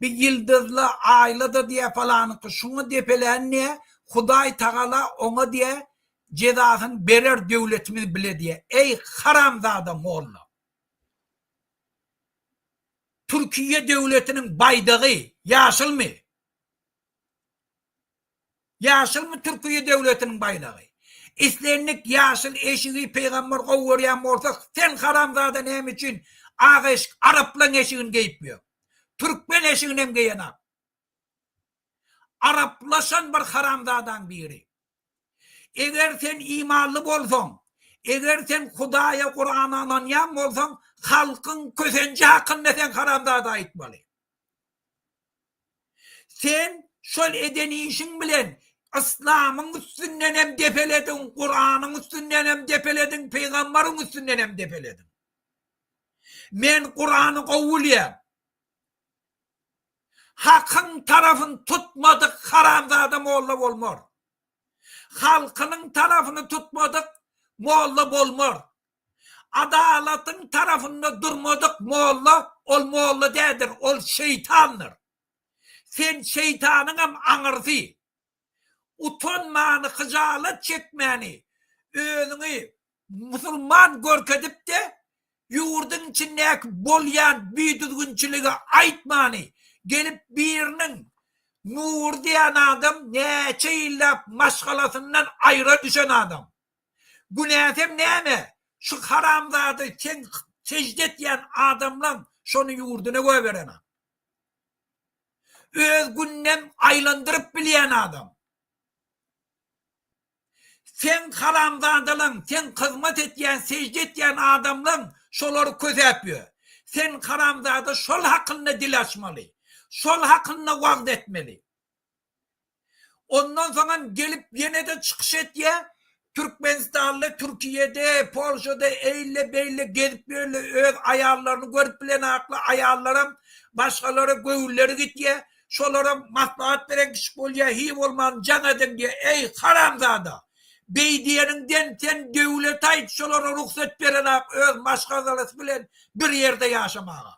Bi ýyldyzla, aýla-da diýä falanyňky şuňa depelän diýä, Hudaý Tagala oňa diýä jezasyn berer döwletimiz bile diýä. Eý haramzada molla. Türkiýe döwletiniň baýdagy ýaşylmy? Ýaşyl bu Türkiýe döwletiniň baýdagy. Islendik ýaşyl eşigi Pygamber gowy görýän bolsa sen haramzada näme üçin ak eşik araplaň eşigini geýip ýör. Türkmen eşiginem geýenap. Araplaşan bir haramzadaň biri. Eger sen imanly bolsaň, eger sen Hudaýa Kurana ynanýan bolsaň halkyň kösenji hakynda sen haramzada aýtmaly. Sen şol eden işiň bilen Yslamyň üstündenem depelediň, Kuranyň üstündenem depelediň, Pygamberiň üstündenem depelediň. Men Kurany gowy bilýän. Hakyň tarafyny tutmadyk haramzada molla bolmar. Halkynyň tarafyny tutmadyk molla bolmar. Adalatyň tarapynda durmadyk molla, ol molla däldir, ol şeýtandyr. Sen şeýtanyňam aňyrsy. Utanmany, hyjalat çekmäni, özüňi musulman görkezip-de, ýurduň içindäki bolýan bidüzgünçiligi aýtmany, gelip biriniň Nury diýen adam näçe ýyllap maşgalasyndan aýra düşen adam. Günäsem näme? Şu haramzada seň sejde etýän adamlaň şony ýurduna göberen-a. Öz gününem aýlandyryp bilýän adam. Seň haramzadalaň, seň hyzmat etýän, sejde etýän adamlaň şolary kösäp ýör. Sen haramzada şol hakynda dil açmaly. Şol hakynda wagt etmeli. Ondan soň hem gelip ýene-de çykyş etýär. Türkmenistanda, Türkiýede, Polşada eýle-beýle gezip ýörle öz aýallaryny görüp bilenakly aýallaram başgalara göwünleri gitýär. Şolara maslahat beren kişi bolýar, hiý bolman jaň ediň diýýär. Eý, haramzada! Beý diýeniňden sen döwlet aýt şolara rugsat berenak öz maşgalalasy bilen bir ýerde ýaşamaga.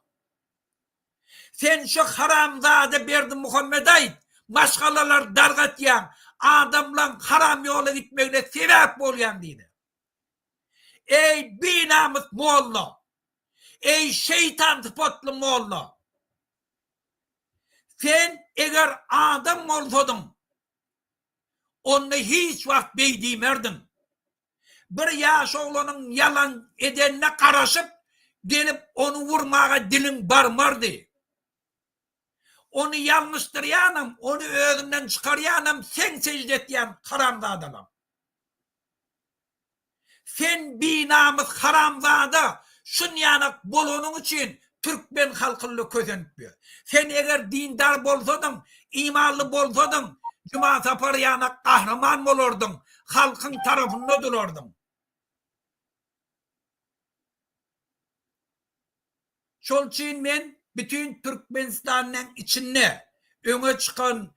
Sen şu haramzada Berdimuhammet aýt, maşgalalary dargatýaň, adamlaň haram ýola gitmegine sebäp bolýaň diýdi. Eý binamys molla! Eý şeýtan sypatly molla! Sen eger adam bolsadyň, onda hiç wagt beý diýmerdiň. Bir ýaş oglanyň ýalan edenine garaşyp, gelip ony urmaga diliň barmardy. Ony ýalňyşdyrýanam, ony özünden çykarýanam seň sežde etýän haramzadalaň. Sen binamys haramzada, şunýanak bolanyň üçin Türkmen halkyna kösenip ýör. Sen eger dindar bolsadyň, imanly bolsadyň, Juma Sapar ýanak gahryman bolardyň, halkyň tarapynda durardyň. Şol üçin men bütin Türkmenistanyň içinde öňe çykan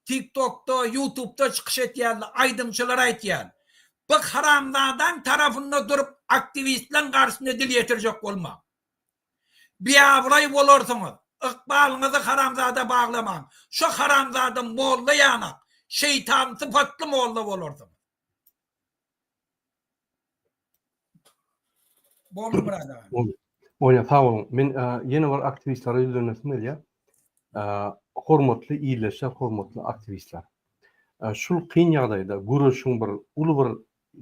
Tiktokda, ýutubda çykyş etýänli aýdymçylar aýtýan, bu haramzadaň tarafynda durup aktiwistleň garşyna dil ýetirjek bolmaň. Biabraý bolarsyňyz, ykbalyňyzy haramzada baglamaň, şo haramzada molla ýanak, şeýtan sypatly molla bolarsyňyz. Boldy Myrat aga. Boldy. Oýa sag boluň. Men e, ýene bir aktiwistlere ýüzlenmesim gelýär. E, hormatly illeşe, hormatly aktiwistler. E, şul kyn ýagdaýda göreşiň bir uly bir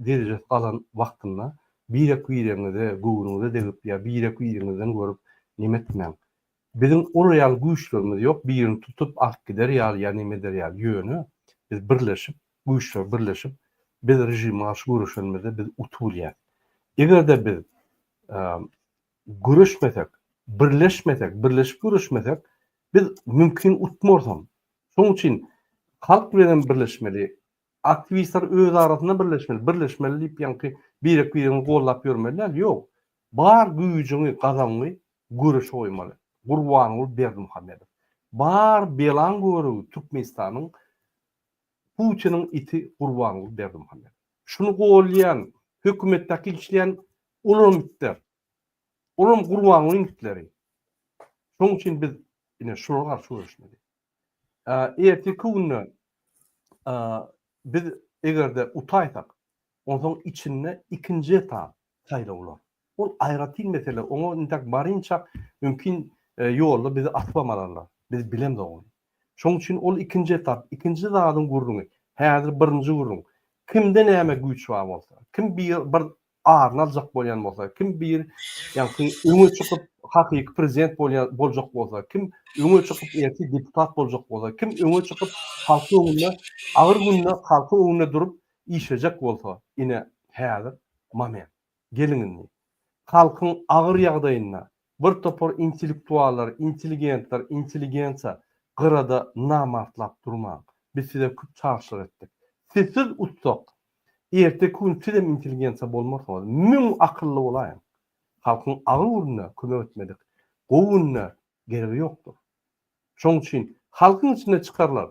derejesi galan wagtynda birek-biregiňize göwnüňize degip ýa birek-biriňizden görüp nemetmäň. Biziň olar ýaly güýçlerimiz ýok birini tutup alyp gider ýaly ýa neme eder ýaly ýöne biz birleşip güýçler birleşip biz režime garşy göreşenimizde biz utup bilýäs. Egerde biz göreşmesek birleşmesek birleşip göreşmesek biz mümkin utmarsam şoň üçin halk bilenem birleşmeli Aktiwistler öz arasynda birleşmeli, birleşmeli diýip ýaňky birek-biregiňi gollap ýörmeli däl, ýok, bar güýjüňi, gazabyňy göreşe goýmaly. Gurbanguly Berdimuhamedow, bar belaň görügi Türkmenistanyň Putiniň iti Gurbanguly Berdimuhamedow. Şuny gollaýan hökümetdäki işleýän olam itler. Olam Gurbangulyň itleri. Şoň üçin biz ine şulara garşy göreşmeli. Ertirki günde biz eger-de utaýsak, onsoň içinde ikinji etap saýlawlar. Ol aýratyn mesele. Oňa intäk barynça mümkin ýolda bizi asybam alarlar. Biz bilemzok ony. Şonuň üçin ol ikinji etap, ikinji zadyň gürrüňi. Häzir birinji gürrüň. Kimde näme güýç bar bolsa, kim bir aryny aljak bolýan bolsa, kim bir ýaňky öňe çykyp hakyky prezident bolýan boljak bolsa, kim öňe çykyp ertir deputat boljak bolsa, kim öňe çykyp halkyň öňünde agyr günde halkyň öňünde durup işlejek bolsa, ine häzir moment. Geliň indi. Halkyň agyr ýagdaýynda Bir topar intellektuallar, intelligentler, intelligensiýa gyrada namartlap durmaň. Biz size köp çagyşlyk etdik. Sizsiz utsak, erteki gün sizem intelligensiýa bolmarsyňyz. Müň akylly bolaýyň. Halkyň agyr gününde kömek etmedik, gowy günde geregi ýokdur. Şoň üçin halkyň içinde çykarlar,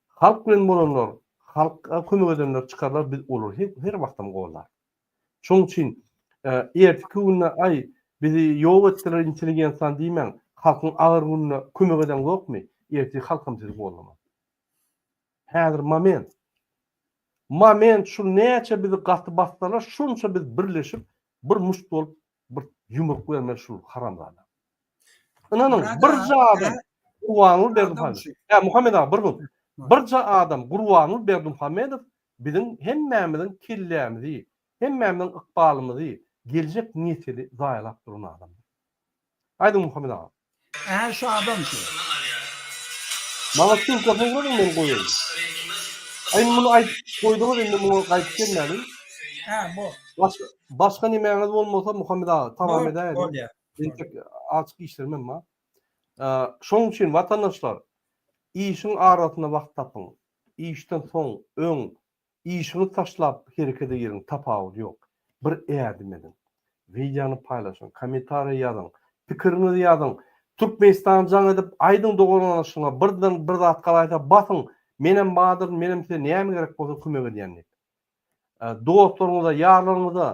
halk bilen bolanlar, halka kömek edenler çykarlar, biz olary her wagtam goldarys. Şoň üçin ertiki günde aý bizi ýok etdiler intelligensiýany diýmäň, halkyň agyr gününe kömek eden zokmy, ertiki halkam sizi gollamaz. Häzir moment. Moment şu näçe bizi gaty bassalar şonça biz birleşip bir muşt bolup Bir ýumruk bermeli şul haramzada. Ynanyň, birje adam Gurbanguly Berdimuhamedow. Ýa Muhammet aga, bir minut. Birje adam Gurbanguly Berdimuhamedow biziň hemmämiziň kellämizi, hemmämiziň ykbalymyzy, geljek nesili zaýalap duran adamdyr. Aýdyň Muhammet aga. Ä şu adam şu. Maňa sumka sowradyň men goýaýyn. Aý indi muny aýdyp goýduňyz indi muňa gaýdyp gelmäliň. Ä bor. Başga başga nemäňiz bolmasa Muhammet aga tamam edäýeliň. Bor bolýa. Entek açyk işlerim hem bar. Şoň üçin watandaşlar işiň arasyna wagt tapyň. Işden soň, öň Işiňizi taşlap herekete giriň tapawudy ýok. Bir ädim ediň. Wideony paýlaşyň, kommentariýa ýazyň, pikiriňizi ýazyň, Türkmenistan jaň edip aýdyň doganlaşyňa birden bir zat galaýsa basyň menem badyryn menem size näme gerek bolsa kömek edýän diýip. Dostlaryňyza, ýarlaryňyza,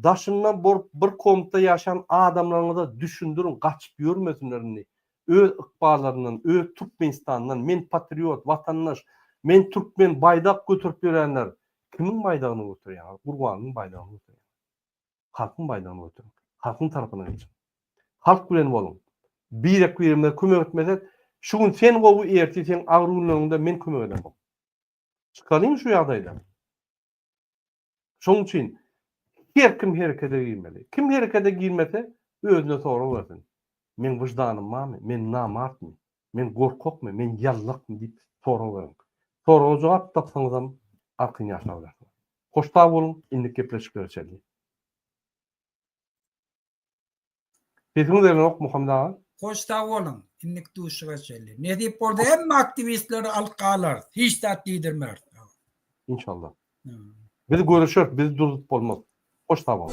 daşyndan bolup bir komnatda ýaşan adamlaryňyza düşündiriň gaçyp ýörmesinler indi öz ykballaryndan, öz Türkmenistanyndan men patriot, watandaş, men türkmen baýdak göterip ýörenler kimiň baýdagyny göterýäňiz? Gurbanlyň baýdagyny göteriň. Halkyň baýdagyny göteriň. Halkyň tarapyna geçiň. Halk bilen boluň. Birek-biremize kömek etmesek, şu gün sen gowy, ertir seň agyr günleriňde men kömek eden bolup. Çykalyň şu ýagdaýdan. Şonuň üçin her kim herekete girmeli. Kim herekete girmese, özüne sorag bersin. Meň wyždanym barmy? Men namartmy? Men gorkakmy? Men ýallakmy? diýip sorag beriň. Soraga jogap tapsaňyzam, arkan ýaşap bilersiňiz. Hoş sag boluň, indiki gepleşiklere çenli! Sesiň berenok Muhammet aga. Hoş sag boluň. Innik duşuşyga çenli. Nesip bolsa hemme aktiwistleri alyp galarys. Hiç zat diýdirmeris. Inşallah. Biz görüşeris, bizi duzup bolmaz. Hoş sag boluň.